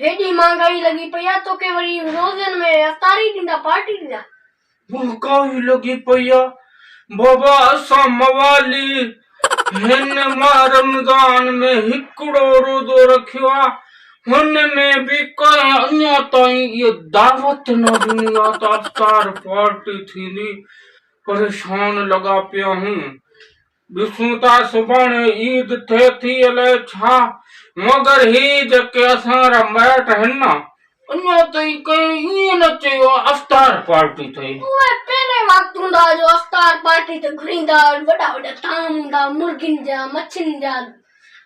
هيڏي مهانگائي لڳي پئي آ توکي وري روزن ۾ اتاري ڏيندا پارٽي ڏيندا. مهانگائي لڳي پئي آ بابا اسان موالي هن ماه رمضان ۾ هڪڙو روزو رکيو آ هن ۾ به ڪنهن اڃا تائين اها دعوت نه ڏني آ ته افطار پارٽي ٿيندي پريشان لڳا پيا آهيون ڏسون ٿا سڀاڻي عيد ٿئي ٿي الائي ڇا مگر هي جيڪي اسان را مائٽ آهن نه اڃا تائين ڪنهن ائين نه چيو آهي افطار پارٽي ٿئي. اهي پهرين وقت هوندا جو افطار پارٽي تي گهريندا هئا وڏا وڏا طعام هوندا مرغين جا مڇين جا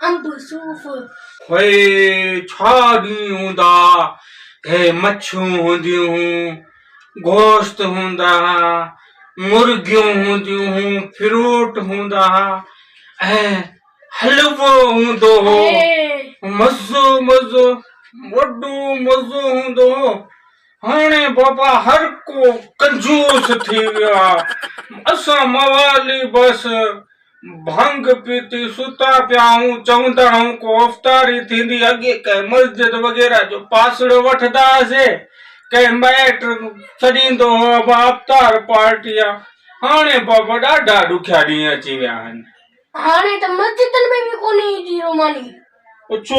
انب صوف. هوء ڇا ڏينهن هوندا، هي مڇيون هونديون هون، گوشت هوندا ها، مرغيون هونديون هون، فروٽ هوندا ها ۽ حلوو هوندو هو. مزو مزو، وڏو مزو هوندو هو. هاڻي بابا هر ڪو ڪنجوس ٿي ويو آ. اسان موالي بس. ڀنگ پيتي ستا پيا هئون، چوندا هئون ڪو افطاري ٿيندي، اڳي ڪنهن مسجد وغيره جو پاسڙو وٺندا هئاسي، ڪنهن مائٽ سڏيندو هو ابا افطار پارٽي آ، هاڻي بابا ڏاڍا ڏکيا ڏينهن اچي ويا آهن. هاڻي ته مسجدن ۾ به ڪونهي ايندي روماني. ڇو؟